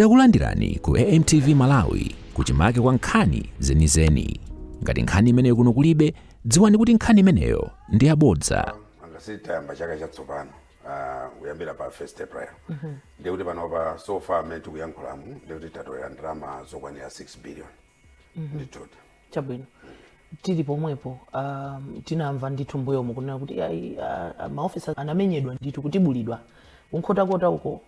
Takulandirani ku AMTV Malawi kuchimake kwa nkhani zenizeni. Ngati nkhani imeneyo kuno kulibe, dziwani kuti nkhani imeneyo ndi yabodza. ngati tayamba chaka chatsopano ah, kuyambira pa 1 april ndiye kuti panopa so far amene tikuyankhulamu ndiye kuti tatolera ndalama zokwanira 6 billion mhm. ndithudi chabwino tili pomwepo um, tinamva ndithu mbuyomu kunena kuti ayi uh, maofisa anamenyedwa ndithu kutibulidwa ku Nkhotakota uko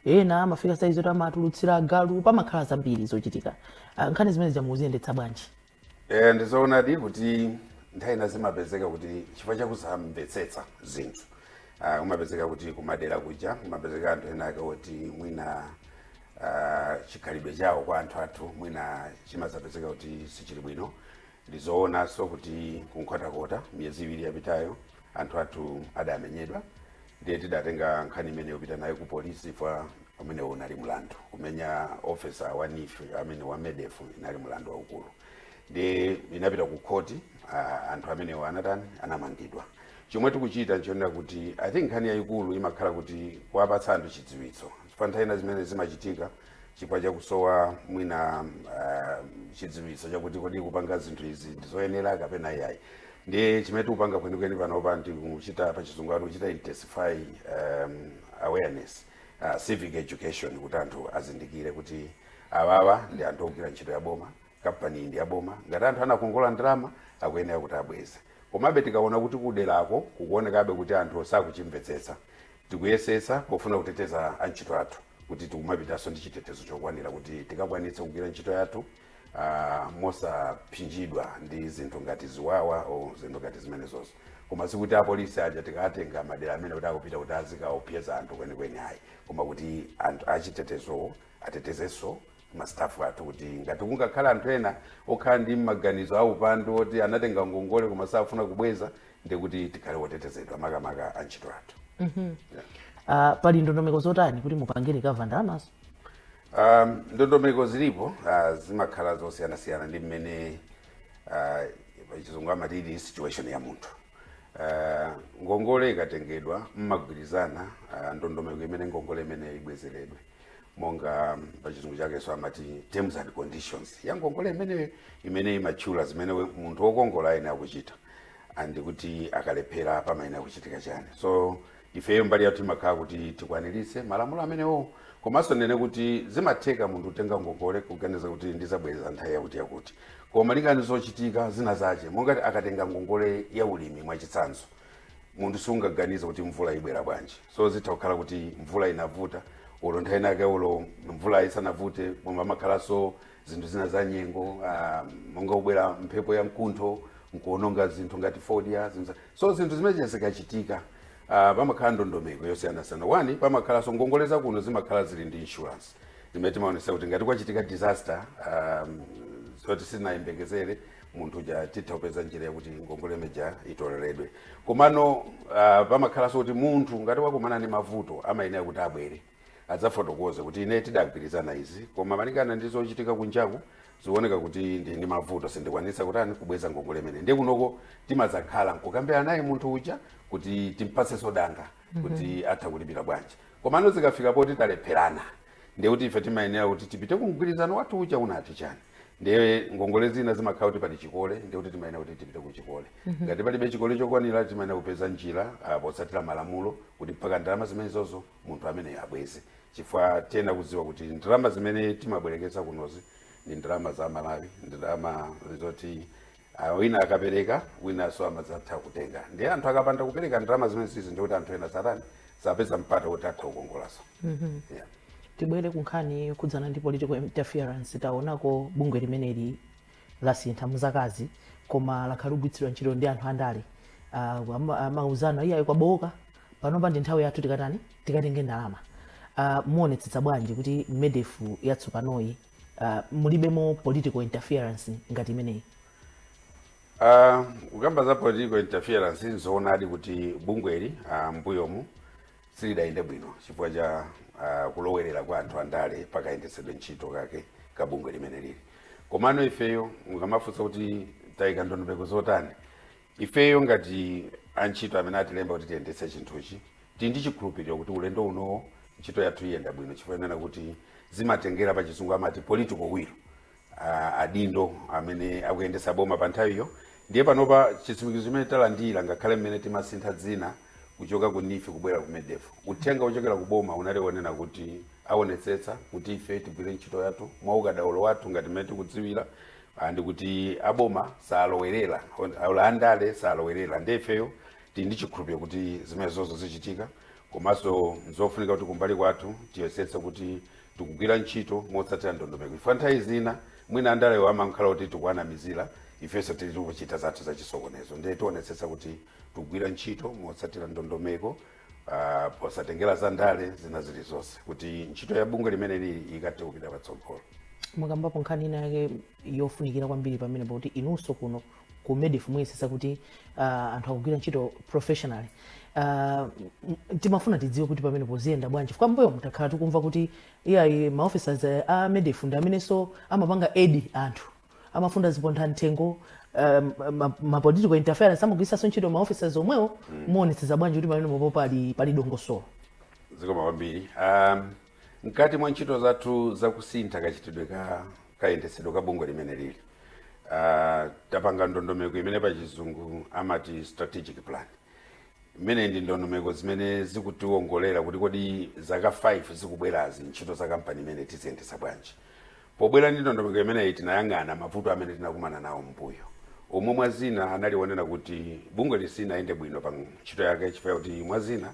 ena amafika saizi oti amatulutsira agalu pamakhala zambiri zochitika uh, nkhani zimenezi mukuziyendetsa bwanji eh, ndizoonadi kuti nthawi ina zimapezeka kuti chifukwa chakusamvetsetsa zinthu uh, ah, kumapezeka kuti kumadera kuja kumapezeka anthu ena ake oti mwina uh, chikhalidwe chawo kwa anthu athu mwina chimazapezeka kuti sichili bwino ndizoonanso kuti ku Nkhotakota miyezi iwiri yapitayo anthu athu adamenyedwa ndiye tidatenga nkhani imeneyo kupita nayo ku polisi chifukwa umene unali mlandu kumenya officer wa NEEF amene wa MEDF inali mlandu waukulu ndiye inapita ku khoti uh, anthu amenewo anatani anamangidwa chomwe tikuchita nchonena kuti i think nkhani yayikulu imakhala kuti kuwapatsa anthu chidziwitso chifukwa nthawi zina zimene zimachitika chifukwa chakusowa mwina uh, chidziwitso chakuti kodi kupanga zinthu izi ndizoyenera kapena iyayi ndiye chimene tikupanga kwenikweni panopa ndikuchita pachizungu amati kuchita intensify um, awareness uh, civic education kuti anthu azindikire kuti awawa ndi anthu ogwira ntchito ya boma kampani ndi ya boma ngati anthu anakongola ndalama akuyenera kuti abweze komabe tikaona kuti kuderako kukuonekabe kuti anthu sakuchimvetsetsa Tikuyesetsa pofuna kuteteza antchito athu kuti tikumapitanso ndi chitetezo chokwanira kuti tikakwanitse kugwira ntchito yathu mosaphinjidwa ndi zinthu ngati ziwawa or zinthu ngati zimenezozo. Koma sikuti apolisi aja tikawatenga madera ameneko kuti akupita kuti azikaopseza anthu kwenikweni ayi, koma kuti anthu achitetezowo atetezenso mastafu athu kuti ngati kungakhale anthu ena okhala ndi maganizo aupandu oti anatenga ngongole koma safuna kubweza ndikuti tikhale otetezedwa makamaka antchito athu Ah, pali ndondomeko zotani kuti mupange recover ndalamazo Um, ndondomeko zilipo uh, zimakhala zosiyanasiyana ndi mmene uh, pachizungu amati ili situation ya munthu uh, ngongole ikatengedwa mmagwirizana uh, ndondomeko imene ngongole imene ibwezeredwe monga pachizungu chakenso amati terms and conditions ya ngongole imeneyo imene imatchula zimene we- munthu wokongola ayenera kuchita and kuti akalephera pamayenera kuchitika chani so ifeyo mbali yathu imakhala kuti tikwaniritse malamulo amenewo komanso ndinene kuti zimatheka munthu kutenga ngongole kuganiza kuti ndizabweza nthawi yakuti yakuti koma malinga ndi zochitika zina zache monga akatenga ngongole ya ulimi mwachitsanzo munthu sungaganize kuti mvula ibwera bwanji so zitha kukhala kuti mvula inavuta olo nthawi inake olo mvula isanavute pamakhalanso zinthu zina za nyengo ah, monga kubwera mphepo ya mkuntho nkuononga zinthu ngati fodya zinthu za- so zinthu zimene zikachitika ah, pamakhala ndondomeko yosiyanasiyana wani pamakhalanso ngongole za kuno zimakhala zili ndi insurance zimene timaonesa kuti ngati kwachitika disaster um, zoti sitinayembekezere munthu uja titha kupeza njira yakuti ngongole imeija itoleredwe komano uh, pamakhalanso kuti munthu ngati wakumana ndi mavuto amayenera kuti abwere adzafotokoze kuti ine tidagwirizana izi koma malingana ndi zochitika kunjaku zikuoneka kuti ndi ndi mavuto sindikwanisa kutani kubweza ngongole imene ndiye kunoko timadzakhala nkukambirana naye munthu uja kuti timpatsenso danga kuti atha kulipira bwanji komano zikafika poti talepherana ndiye kuti ife timayenera kuti tipite ku mgwirizano wathu uja unati chani ndiye ngongole zina zimakhala kuti pali chikole ndiye kuti timayenera kuti tipite ku chikole ngati palibe chikole chokwanira timayenera kupeza njira ah, potsatira malamulo kuti mpaka ndalama zimenezozo munthu amene abweze chifukwa tiyenera kudziwa kuti ndalama zimene timabwereketsa kunozi ndi ndalama za aMalawi ndalama zoti Ah, wina akapereka winanso amadzatha kutenga ndiye anthu akapanda kupereka ndalama zimene zizi ndiye kuti anthu ena satani sapeza mpata kuti atha kukongolanso mm-hmm. yeah. tibwere kunkhani yokhudzana ndi political interference taonako bungwe limeneli lasintha m'zakazi koma lakhala likugwiritsidwa ntchito ndi anthu andale ah, amauzana iyayi kwabowoka panopa ndi nthawi yathu tikatani tikatenge ndalama uh, muonetsetsa bwanji kuti medef yatsopanoyi uh, mulibemo political interference ngati imeneyi uh, kukamba za political interference nzoonadi kuti bungweli uh, mbuyomu silidayende bwino chifukwa cha uh, kulowerera kwa anthu andale pakayendetsedwe ntchito kake ka bungwe limene lili komano ifeyo mukamafunsa kuti tayika ndondomeko zotani ifeyo ngati antchito amene atilemba kuti tiyendetse chinthuchi tili ndi chikhulupiriro kuti ulendo unowo ntchito yathu iyenda bwino chifukwa kunena kuti zimatengera pa chizungu amati political will ah, adindo amene akuyendetsa boma pa nthawiyo ndiye panopa chitsimikizo chimene talandira ngakhale mmene timasintha dzina kuchoka ku neef kubwera ku medef uthenga wochokera ku boma unali wonena kuti aonetsetsa kuti ife tigwire ntchito yathu mwa ukadaulo wathu ngati mmene tikudziwira Ah, ndikuti aboma salowerera on- olo andale salowerera nde ifeyo tili ndi chikhulupiriro kuti zimenezozo zichitika komanso nzofunika kuti kumbali kwathu tiyesetse kuti tikugwira ntchito motsatira ndondomeko chifukwa nthawi zina mwina andalewo amakhala kuti tikuwanamizira ifenso tili tikuchita zathu zachisokonezo ndiye tionetsetsa kuti tikugwira ntchito motsatira ndondomeko uh, posatengera za ndale zina zilizonse kuti ntchito ya bungwe limeneli ikathe kupita patsogolo mukambapo nkhani ina yake yofunikira kwambiri pamenepa kuti inunso kuno ku medif muyesetsa kuti uh, anthu akugwira ntchito professionally uh, timafuna tidziwe kuti pamenepo ziyenda bwanji chifukwa m'mbuyomu takhala tikumva kuti iyayi maofficers a medif ndi amenenso amapanga aid anthu amafuna ziphuphu mthengo um, ma- ma political interference amagwiritsanso ntchito ma officers omwewo muonetsetsa bwanji kuti pamenepopo pali pali dongosolo zikomo kwambiri um, mkati mwa ntchito zathu zakusintha kachitidwe ka kayendetsedwe ka bungwe limeneli uh, tapanga ndondomeko imene pa chizungu amati strategic plan imene ndi ndondomeko zimene zikutiwongolera kuti kodi zaka 5 zikubwerazi ntchito za kampani imeneyi tiziyendetsa bwanji Pobwera ndi ndondomeko imeneyi, tinayang'ana mavuto amene tinakumana nawo m'mbuyo, omwe mwa zina anali onena kuti bungweli silinayende bwino pa ntchito yake chifukwa chakuti mwa zina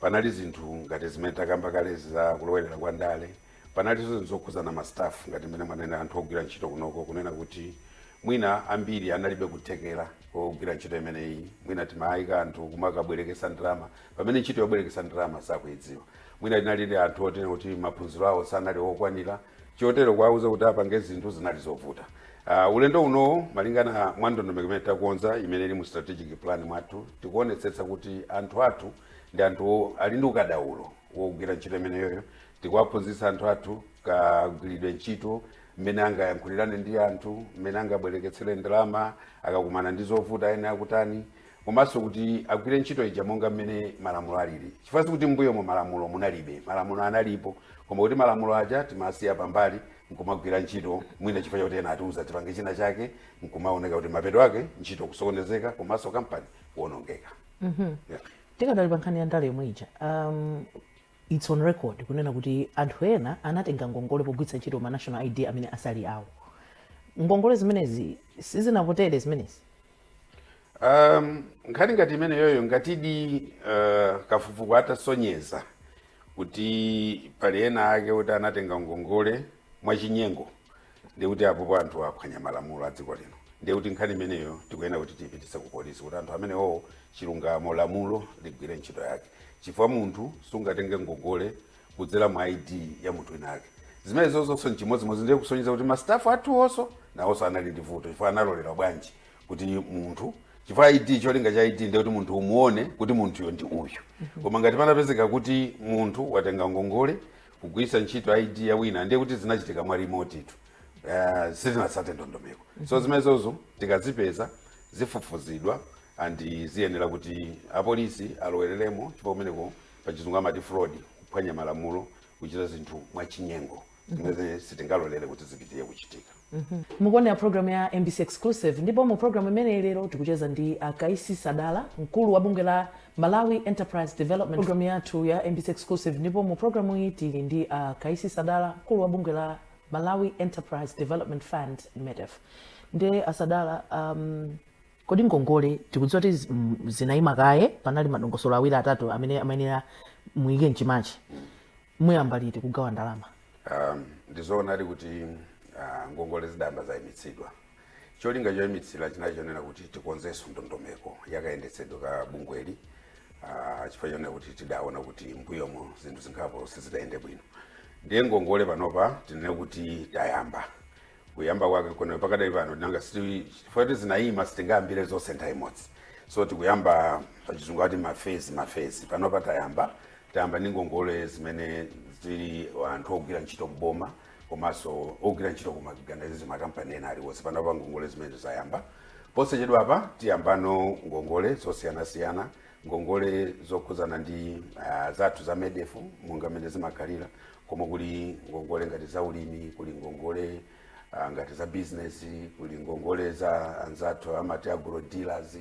panali zinthu ngati zimene takamba kalezi za kulowerera kwa ndale. Panalinso zinthu zokhudzana ma staff ngati mmene mwanenera anthu ogwira ntchito kunoko kunena kuti mwina ambiri analibe kuthekera kogwira ntchito imeneyi, mwina timayika anthu kumakabwereketsa ndalama. pamene ntchito yobwereketsa ndalama sakuidziwa mwina tinali ndi anthu oti kuti maphunziro awo sanali okwanira chotero kuwauza kuti apange zinthu zinali zovuta uh, ulendo unowo malingana mwa ndondomeko imene takonza imene ili mu strategic plan mwathu tikuonetsetsa kuti anthu athu ndi anthu ali ndi ukadaulo wogwira ntchito imeneyoyo tikuwaphunzitsa anthu athu kagwiridwe ntchito mmene angayankhulirane ndi anthu mmene angabwereketsere ndalama akakumana ndi zovuta iwe ukutani komanso kuti agwire ntchito ija monga mmene malamulo alili chifukwa sikuti m'mbuyomo malamulo munalibe malamulo analipo koma kuti malamulo aja timasiya pambali nkumagwira ntchito mwina chifukwa chakuti ena atiuza tipange china chake nkumaoneka kuti mapeto ake ntchito kusokonezeka komanso kampani kuonongeka yeah. tikadali pa nkhani ya ndale yomwe ija um, its on record kunena kuti anthu ena anatenga ngongole pogwiritsa ntchito ma national id amene sali awo ngongole zimenezi zinakutani zimenezi Um, nkhani ngati imeneyoyo ngatidi uh, kafukufuku atasonyeza kuti pali ena ake kuti anatenga ngongole mwachinyengo ndiye kuti apopo anthu aphwanya malamulo a dziko lino ndiye kuti nkhani imeneyo tikuyenera kuti tiipititse ku polisi kuti anthu amenewo chilungamo lamulo ligwire ntchito yake chifukwa munthu sungatenge ngongole kudzera mu ID ya munthu wina ake. Zimenezozonso n'chimodzimodzi ndiye kusonyeza kuti ma staff athuwonso nawonso anali ndi vuto chifukwa analolera bwanji kuti munthu chifukwa ID cholinga cha ID ndi kuti munthu umuone kuti munthuyo ndi uyu. Koma ngati panapezeka kuti munthu watenga ngongole kugwiritsa ntchito ID ya wina ndiye kuti zinachitika mwa remote tu. Uh, sitinatsate ndondomeko. So zimenezozo tikazipeza zifufuzidwa and ziyenera kuti apolisi alowereremo chifukwa kumeneko pachizungu amati fraud, kuphwanya malamulo, kuchita zinthu mwachinyengo zimene sitingalolere kuti zipitire kuchitika. Mukuonera program ya mbc Exclusive ndipo mu program imeneyi lero tikucheza ndi a Kaisi Sadala, mkulu wa bungwe la Malawi Enterprise Development. Program yathu ya mbc Exclusive ndipo mu program iyi tili ndi Kaisi Sadala, mkulu wa bungwe la Malawi Enterprise Development Fund, MEDEF. Nde a Sadala um, Kodi ngongole tikudziwa kuti zinaima kaye panali madongosolo awiri atatu amene amayenera muike m'chimake muyamba liti kugawa ndalama? Um, ndizoonadi kuti uh, ngongole zidayamba zaimitsidwa cholinga choimitsira chinali chonena kuti tikonzenso ndondomeko yakayendetsedwe ka bungweli uh, chifukwa chonena kuti tidaona kuti m'mbuyomo zinthu zingapo sizidayende bwino ndiye ngongole panopa tinene kuti tayamba kuyamba kwake kuno pakadali pano nanga si- chifukwa kuti zinayima sitingayambire zonse nthawi imodzi so tikuyamba pachizungu ati mafezi mafezi panopa tayamba tayamba ndi ngongole zimene zili anthu ogwira ntchito m'boma komanso ogwira ntchito kumakanizo makampani ena aliwonse panopa ngongole zimene zayamba posachedwa apa tiyambano ngongole zosiyanasiyana ngongole zokhudzana ndi uh, zathu za medefu monga mmene zimakhalira koma kuli ngongole ngati za ulimi, kuli ngongole ah, ngati za business, kuli ngongole za anzathu amati agro dealers,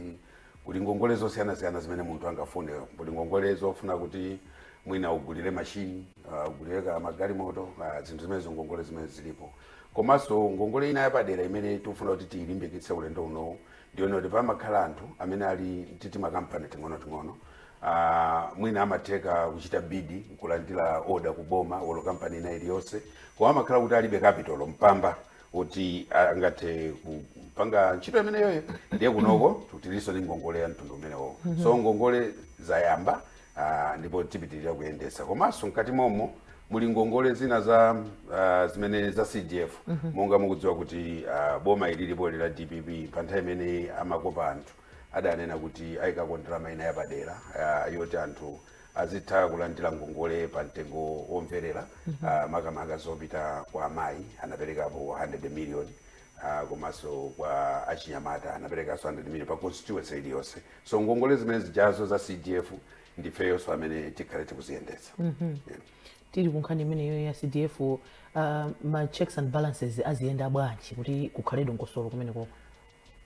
kuli ngongole zosiyanasiyana zimene munthu angafune, kuli ngongole zofuna kuti mwina ugulire mashini, ah, ugulire kaya magalimoto, ah, zinthu zimenezo ngongole zimene zilipo. Komanso ngongole ina yapadera imene tikufuna kuti tiyilimbikitse ulendo unowu Ndi yoona kuti pamakhala anthu amene ali ndi timakampani ting'onoting'ono ah, mwina amatheka kuchita bidi nkulandira oda ku boma olo kampani ina iliyonse koma amakhala kuti alibe kapitalo mpamba kuti angathe kupanga ntchito imeneyoyo ndiye kunoko tilinso ndi ngongole ya mtundu umenewo so ngongole zayamba Ah, ndipo tipitiriza kuyendetsa komanso mkati momo muli ngongole zina za ah, zimene za cdf monga mukudziwa kuti ah, boma ilipoli la dpp pa nthawi imene amakopa anthu adanena kuti ayikako ndalama ina yapadera ah, yoti anthu azitha kulandira ngongole pa mtengo womverera ah, makamaka zopita kwa amayi anaperekapo 100 million uh, komanso kwa achinyamata anaperekanso 100 million pa constituency iliyonse so ngongole zimene zijazo za cdf ndifeyonso amene tikhale tikuziyendetsa mm -hmm. yeah. tili kunkhani imeneyo ya cdf uh, ma checks and balances aziyenda bwanji kuti kukhale dongosolo kumeneko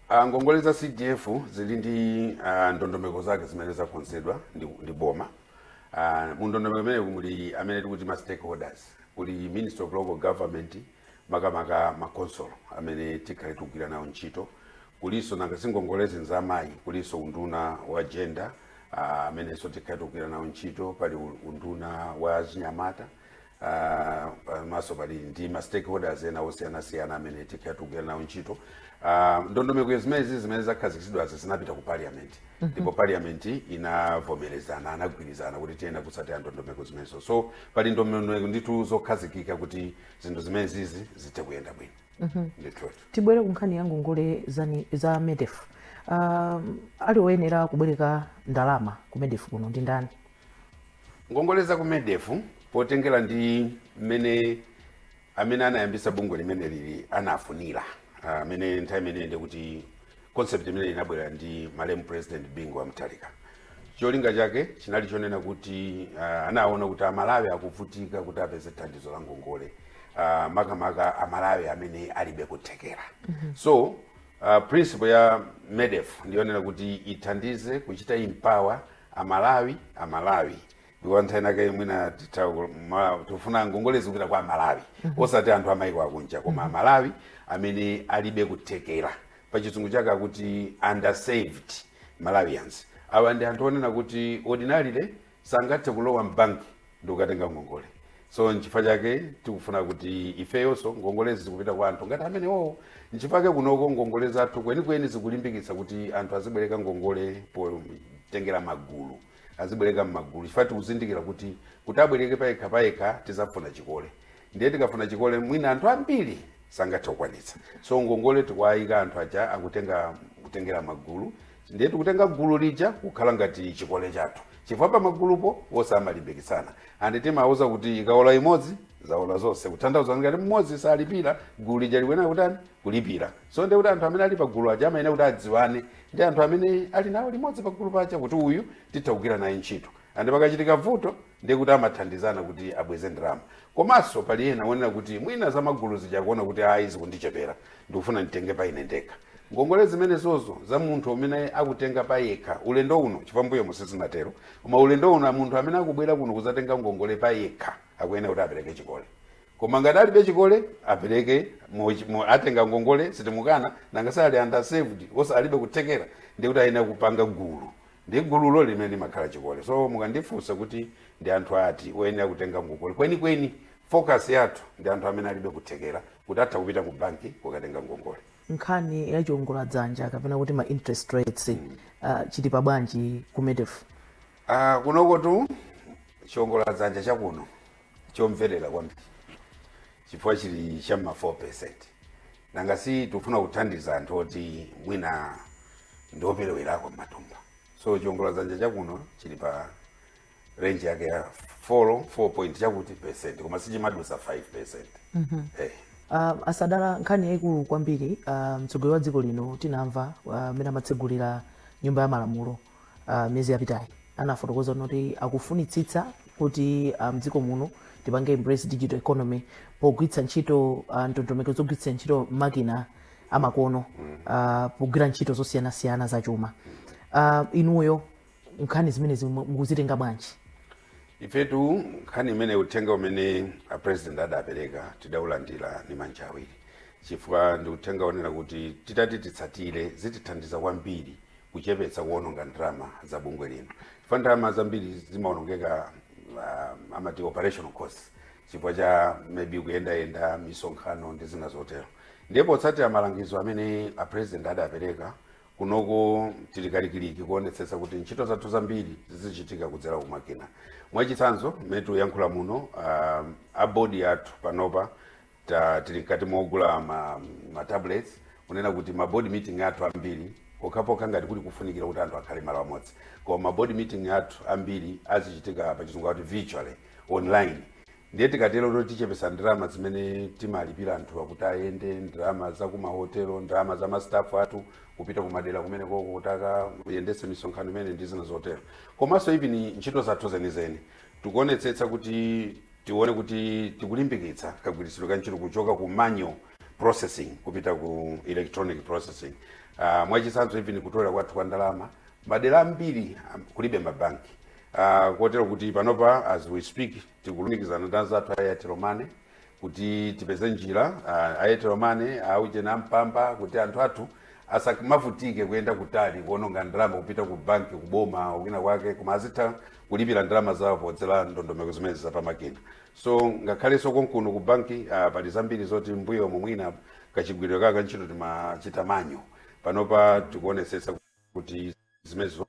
uh, ngongole za cdf zili ndi uh, ndondomeko zake zimene zakonzedwa ndi, ndi boma uh, mu ndondomeko imeneyo muli amene tikuti ma stakeholders kuli ministry of local government makamaka ma khonsolo amene tikhale tikugwira nawo ntchito kulinso nanga si ngongolezi nza amayi kulinso unduna wa gender ah, amenenso tikhale tikugwira nawo ntchito pali u- unduna wa achinyamata ah, pamaso pali ndi ma stakeholders ena osiyanasiyana amene tikhale tikugwira nawo ntchito Ah, ndondomeko zimenezi zimene zakhazikitsidwazi zinapita ku parliament ndipo parliament inavomerezana anagwirizana kuti tiyenera kutsatira ndondomeko zimenezo so pali ndondomeko ndithu zokhazikika kuti zinthu zimene zizi zithe kuyenda bwino ndithutu tibwere ku nkhani ya ngongole zani- za medef um, ali oyenera kubwereka ndalama ku medef kuno ndi ndani ngongole za ku medef potengera ndi mmene amene anayambisa bungwe limene lili anafunira Ah, amene nthawi imeneyi ndikuti concept imeneyi inabwera ndi malemu president bingu wa mutharika cholinga chake chinali chonena kuti uh, anaona kuti amalawi akuvutika kuti apeze thandizo la ngongole uh, makamaka amalawi amene alibe kuthekera so uh, principle ya medef ndiyonena kuti ithandize kuchita empower amalawi amalawi ndipo nthawi inake mwina titha ku- ma- tikufuna ngongole zizipita kwa amalawi osati anthu amaiko akunja koma amalawi amene alibe kuthekera pa chizungu chake akuti underserved malawians awa ndi anthu onena kuti ordinarily sangathe kulowa mbanki ndi kukatenga ngongole so nchifukwa chake tikufuna kuti ifeyonso ngongolezi zizipita kwa anthu ngati amenewowo nchifukwa chake kunoko ngongole zathu kwenikweni zikulimbikitsa kuti anthu azibwereka ngongole potengera magulu azibwereka mmagulu chifukwa tikuzindikira kuti kuti abwereke payekha payekha tizafuna chikole ndiye tikafuna chikole mwina anthu ambiri sangathe kukwanitsa so ngongole tikuwayika anthu aja akutenga kutengera magulu ndiye tikutenga gulu lija kukhala ngati chikole chathu chifukwa pa magulupo onse amalimbikitsana and timawauza kuti ikaola imodzi zaola zonse kutanthauza ngati mmodzi salipira gulu lija likuyenera kutani kulipira so ndekuti anthu amene ali pagulu aja amayenera kuti adziwane ndi anthu amene ali nawo limodzi pagulu paja kuti uyu titha kugwira naye ntchito and pakachitika vuto ndiye kuti amathandizana kuti abweze ndalama komanso pali ena onena kuti mwina za magulu zija kuona kuti ayi zikundichepera ndikufuna nditenge pa ine ndekha ngongole zimenezozo za munthu amene akutenga pa yekha ulendo uno m'mbuyomu sizinatero koma ulendo uno munthu amene akubwera kuno kuzatenga ngongole pa yekha akuyenera kuti apereke chikole Koma ngati ali ndi chikole apereke mo, mo, atenga ngongole sitimukana nanga si ali underserved so alibe kuthekera ndiye kuti ayenera kupanga gulu ndi gululo limene limakhala chikole so mukandifunsa kuti ndi anthu ati oyenera kutenga ngongole kwenikweni focus yathu ndi anthu amene alibe kuthekera kuti atha kupita ku banki kukatenga ngongole nkhani ya chiongola dzanja kapena kuti ma interest rates uh, chili pa bwanji ku medef Ah, kunokotu chiongola dzanja chakuno chomverera kwambiri chifukwa chili cha ma 4 percent nanga si tufuna kuthandiza anthu oti mwina ndioperewerako m'matumba so chiongola dzanja chakuno chili pa range yake ya 4 4 point chakuti percent koma sichimadusa 5 percent mm -hmm. hey. Eh. Uh, ah, asadala nkhani yaikulu kwambiri uh, mtsogoleri wa dziko lino tinamva mmene ah, uh, amatsegulira nyumba ya malamulo uh, miyezi yapitayi anafotokoza kuti akufunitsitsa kuti uh, mdziko um, muno tipange embrace digital economy pogwiritsa ntchito uh, ndondomeko zogwiritsa ntchito makina amakono uh, pogwira ntchito zosiyanasiyana za chuma uh, inuyo nkhani zimenezi mukuzitenga bwanji ifetu nkhani imene uthenga umene a president adapereka tidaulandira ni manja awiri chifukwa ndi uthenga wonena kuti titati titsatire zitithandiza kwambiri kuchepetsa kuononga ndalama za bungwe lino chifukwa ndalama zambiri zimaonongeka uh, amati operational costs chifukwa cha maybe kuyendayenda misonkhano ndi zina zotero ndiye potsatira malangizo amene a president adapereka kunoko tili kalikiliki kuonetsetsa kuti ntchito zathu zambiri zizichitika kudzera kumakina mwachitsanzo mmene tikuyankhula muno um, a bodi athu panopa ta tili mkati mogula ma, ma tablets kunena kuti ma board meeting athu ambiri pokhapokha ngati kuli kufunikira kuti anthu akhale malo amodzi koma ma board meeting athu ambiri azichitika pa chizungu kuti virtually online ndiye tikatero kuti tichepesa ndalama zimene timalipira anthu akuti ayende ndalama za kumahotelo ndalama za mastafu athu kupita kumadera kumene koko kuti akayendese misonkhano imeneyi ndi zina zotero komanso even ntchito zathu zenizeni tikuonetsetsa kuti tione kuti tikulimbikitsa kagwiritsidwe ka ntchito kuchoka ku manual processing kupita ku electronic processing uh, mwachitsanzo even kutolera kwathu kwa ndalama madera ambiri um, kulibe mabanki uh, kotero kuti panopa as we speak tikulumikizana ndi anzathu a airtel money kuti tipeze njira uh, airtel money aujena ampamba kuti anthu athu asamavutike kuyenda kutali kuononga ndalama kupita ku banki kuboma kwina kwake koma azitha kulipira ndalama zawo podzera ndondomeko zimene zapamakina so ngakhalenso konkuno ku banki uh, pali zambiri zoti mmbuyomu mwina kachigwiridwe kake ka ntchito timachita manual panopa tikuonetsetsa kuti zimenezo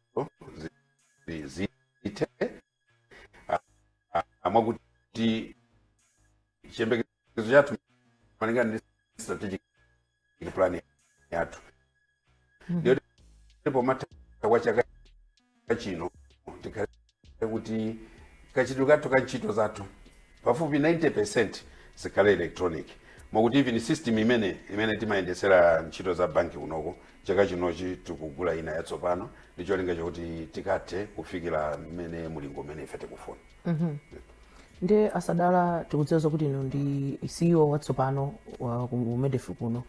zi- zithe Ah, ah, mwakuti chiyembekezo chathu malingana ndi strategic ndi plan yathu ndiyo pomatha kwa chaka chino tikhale kuti kachitidwe kathu ka ntchito zathu pafupi 90 percent chikhale electronic mwakuti even system imene imene timayendetsera ntchito za banki kunoko chaka chinochi tikugula ina yatsopano ndi cholinga chakuti tikathe kufikira mmene mulingo umene ife tikufuna nde asadala tikudziwa zokuti inu ndi ceo watsopano wa ku medefi kuno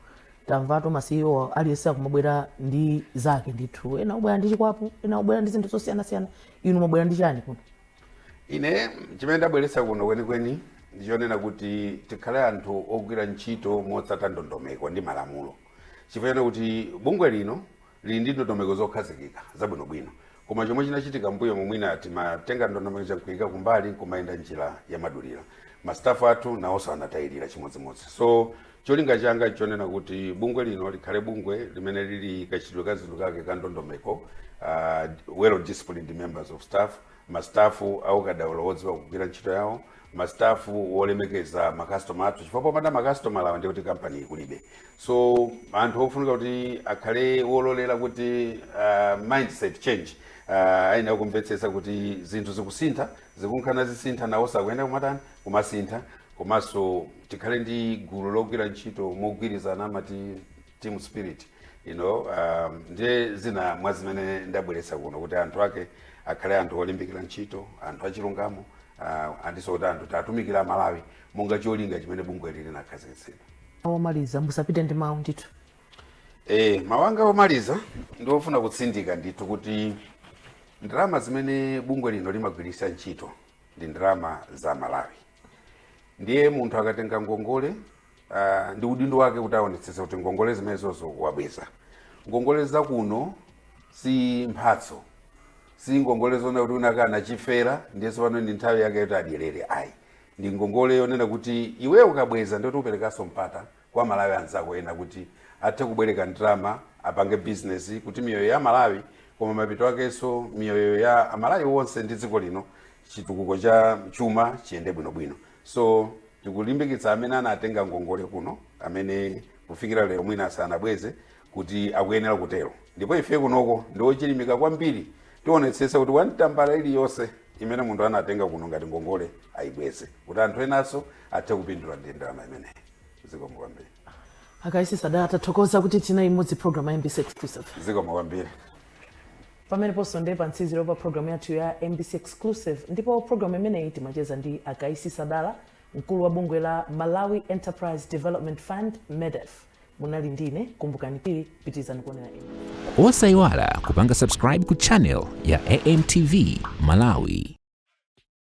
tamvatu ma ceo aliyense akumabwera ndi zake ndithu ena amabwera ndi chikwapu ena amabwera ndi zinthu zosiyanasiyana inu mwabwera ndi chani kuno ine chimene ndabweretsa kuno kwenikweni ndichonena kuti tikhale anthu ogwira ntchito motsata ndondomeko ndi malamulo chifukwa kuti bungwe lino lili ndi ndondomeko zokhazikika zabwinobwino. Koma chomwe chinachitika mmbuyomu mwina timatenga ndondomeko ija nkuika kumbali nkumayenda njira yamadulira. Ma staff athu nawonso anatayirira chimodzimodzi. So cholinga changa nchonena kuti bungwe lino likhale bungwe limene lili kachitidwe ka zinthu kake ka ndondomeko, ah, well disciplined members of staff masitafu aukadaulo wodziwa kugwira ntchito yawo masitafu wolemekeza makastoma athu chifukwa popanda makastomala wa ndiye kuti kampani kulibe so anthu ofunika kuti akhale wololera kuti uh, mindset change uh, ayenera kumvetsetsa kuti zinthu zikusintha zikumka nazisintha nawonso akuyenera kumatani kumasintha komanso tikhale ndi gulu logwira ntchito mogwirizana amati team spirit you know um, ndiye zina mwa zimene ndabweretsa kuno kuti anthu ake akhale anthu olimbikira ntchito anthu achilungamo uh, andinso kuti anthu titumikire amalawi monga cholinga chimene bungwe lili linakhazikitsidwa tomaliza musapite ndi mawu ndithu e, mawu anga omaliza ndiofuna kutsindika ndithu kuti ndalama zimene bungwe lino limagwiritsa ntchito ndi ndalama za amalawi ndiye munthu akatenga ngongole uh, ndi udindo wake kuti aonetsetse kuti ngongole zimenezozo wabweza ngongole za kuno si mphatso si ngongole zonena kuti wina wake anachifera ndiye tsopano ndi nthawi yake yoti adyerere ayi ndi ngongole yonena kuti iwe ukabweza ndiye kuti uperekanso mpata kwa amalawi anzako ena kuti athe kubwereka ndalama apange bizinesi kuti miyoyo ya amalawi koma mapeto akenso miyoyo ya amalawi onse ndi dziko lino chitukuko cha chuma chiyende bwinobwino So tikulimbikitsa amene anatenga ngongole kuno amene kufikira lero mwina sanabweze kuti akuyenera kutero ndipo ife kunoko ndife ochilimika kwambiri tionetsetsa kuti wan tambala iliyonse imene munthu anatenga kuno ngati ngongole ayibweze kuti anthu enanso athe kupindula ndi ndalama imeneyi zikomo kwambiri a Kaisi Sadala tathokoza kuti tinali limodzi program ya mbc exclusive zikomo kwambiri Pameneponso ndi pamtsiziro pa program yathu ya mbc Exclusive ndipo program imeneyi timacheza ndi a Kaisi Sadala mkulu wa bungwe la Malawi Enterprise Development Fund MEDEF. Munali ndine Kumbukani Phiri, pitirizani kuonera mbc. Osaiwala kupanga subscribe ku channel ya AMTV Malawi.